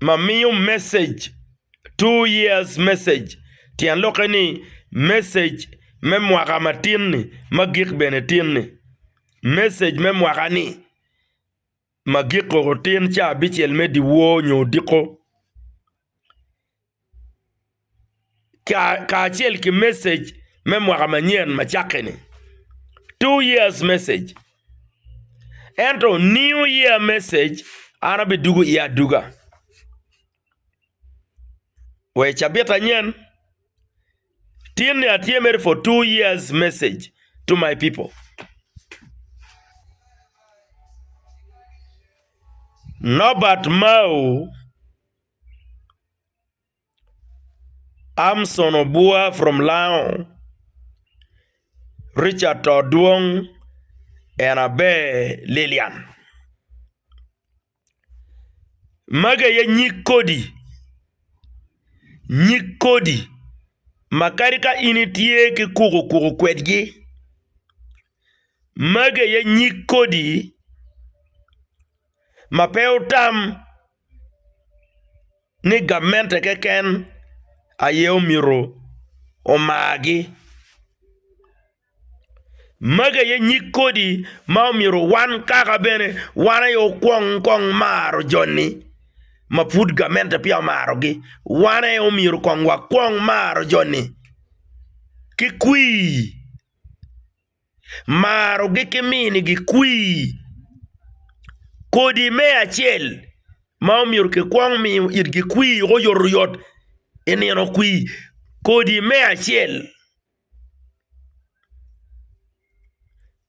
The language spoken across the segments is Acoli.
ma miyo message two years message tyen lok eni message me mwaka ma tin ni ma gik bene tin ni message me mwaka ni ma giko otin ca abicel me dyewor nyo odiko. kacel ki message me mwaka manyen ma cakke ni two years message ento new year message an aye adugo iye aduga wa i cabit anyen tin ni atye mere for two years message to my people Nobert Mao. Amson obua from lango, Richard to dwong en abe Lilian magi aye nyig kodi nyig kodi ma kadi ka in itye ki kuku kuku kwedgi magi aye nyig kodi ma pe otam. ni gamente keken aye omyero omargi. Magi aye nyig kodi ma omyero wan kaka bene wan aye okwong kong maro joni ma pud gamente peya omarogi. Wan aye omyero kong wakwong maro joni ki kwir. marogi ki minigi kwir. Kodi me acel ma omyero kikwong miyo itgi kwir wek oyot oyot i nino kwir kodi me acel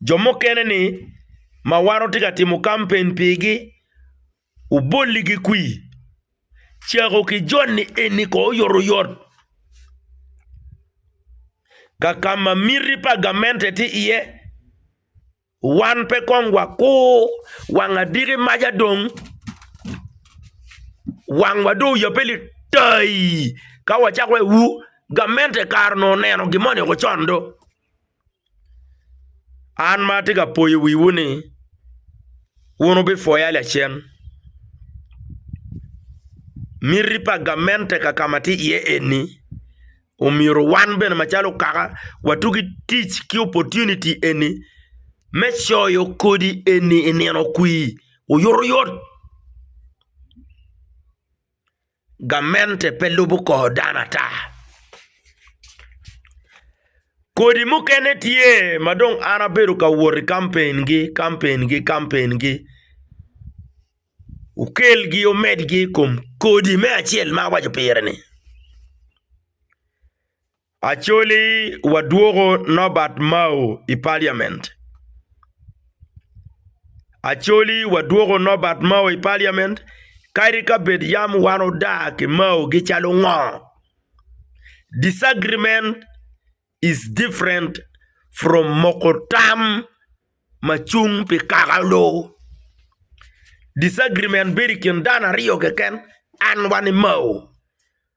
jo mukene ni ma wan watye ka timo kampen pigi Obolli ki kwi. Cako ki joni eni ko oyotoyot. Ka ka ma miti pa gamente tye iye, wan pe kong wakur wang adiki maca dong wangwa dong oyabe litaii ka wacako waye wu gamente kare onongo oneno gin moni woko con do. An ma atye ka poyo wiwu ni wun wubipwoya lacen. Miti pa gamente ka ka ma atye iye eni omyero wan bene macalo okaka watug ki tic ki opportunity eni me coyo kodi eni i nino kwir oyuto yot. Gamente pe lubo kor dano ata. Kodi mukene tye ma dong an abedo ka wot i kampengi, kampengi, kampengi, wukelgi wumedgi i kom kodi me acel ma awaco pire-ni. Acholi wadwoko Norbert Mao i Parliament. Acholi wadwoko Norbert Mao i Parliament, kadi ka bed yam wan odar ki Mao gi calo ngo, disagreement is different from moko tam ma cung pi kakalo. Disagreement bedo i kin dano aryo keken, an wa ni Mao.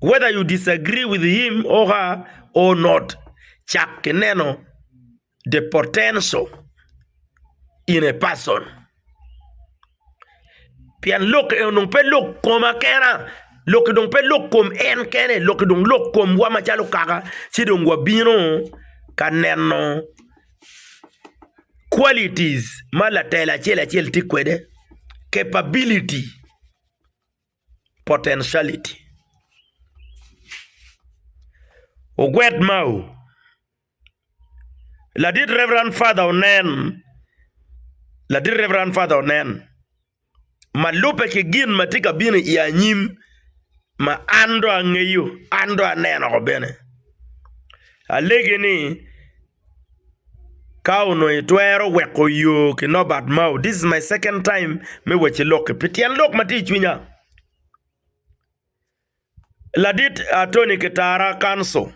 whether you disagree with him or her or not cak ki neno the potential in a person pien lok eni onongo pe lok koma kena, lok eni onongo pe lok kom en kene lok eni dong lok komwa macalo kaka ci dong wabino ka neno qualities ma latel acel acel tye kwede, capability. potentiality. Ogwed mau. Ladit Rev. Father onen, ladit Rev. Father onen, ma lubbe ki gin ma tye ka bino i anyim ma an dong angeyo, an dong aneno woko bene. Alegi ni. Ka onongo itwero weko yo ki Nobert Mao, this is my second time me wacci lok-ki pi tyen lok ma tye i cwinya. Ladit Attorney Kitara, Counsel,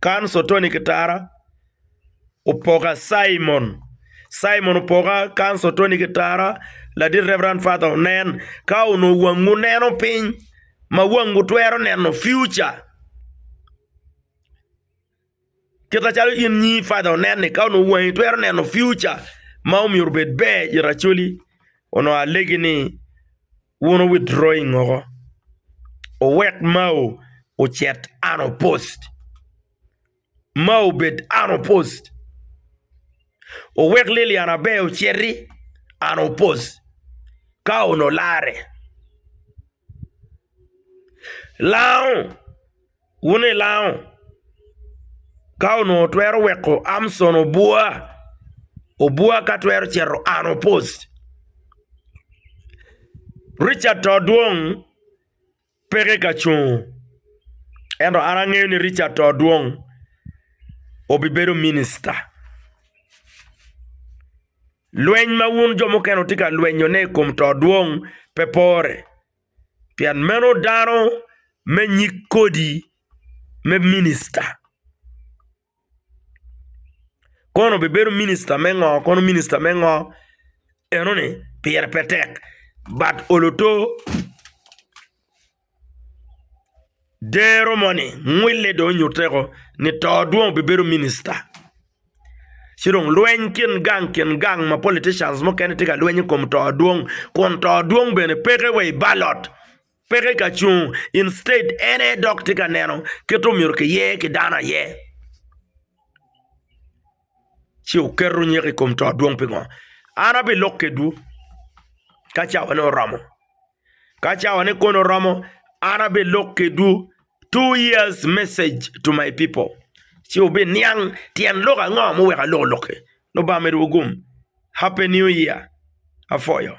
Counsel Attorney Kitara, Opoka Cimon, Cimon Opoka, Counsel Attorney Kitara, Ladit Rev. Father Onen, ka onongo wangu neno piny ma wangu twero neno future. Kit macalo in nyi Fadha onenni ka onongo wangi twero neno piuca ma myero obed ber i racoli onongo alegi ni wun wu witdrawing woko wuwek mao ocit an opusd mao obed an opusd wuwek Lilian Aber ociti an opusd ka onongo larre lango. wun ilango ka onongo twero weko Amson obwoa, obwoa ka twero cito an opos. Ricadt to dwong peke ka cung ento an angeyo ni Ricadt to dwong obibedo minista. Lweny ma wun jo mukene wutye ka lwenyone i kom to dwong pe pore. pien meno dano me nyig kodi me minista. Kono bibedo minista me ngo, kono minista me ngo enoni pire pe tek but oluto dero moni, ngwille dong onyutteko ni to dong obibedo minista. Ci dong lweny kin gang kin gang ma politicians mukene tye ka lweny i kom to dwong kun to dwong bene peke wa i ballot, peke ka cung instead en aye dok tye ka neno kit omyero kiye ki dano aye. Ci wuketo nyeko i kom to dwong pingo? An abilok kedwu ka cawane oromo. Ka cawane kono oromo, an abilok kedwu two years message to my people, ci wubiniang tyen lok ango muweko aloko lok-ki. Lubanga omedo wugum. Happy New Year! Apwoyo.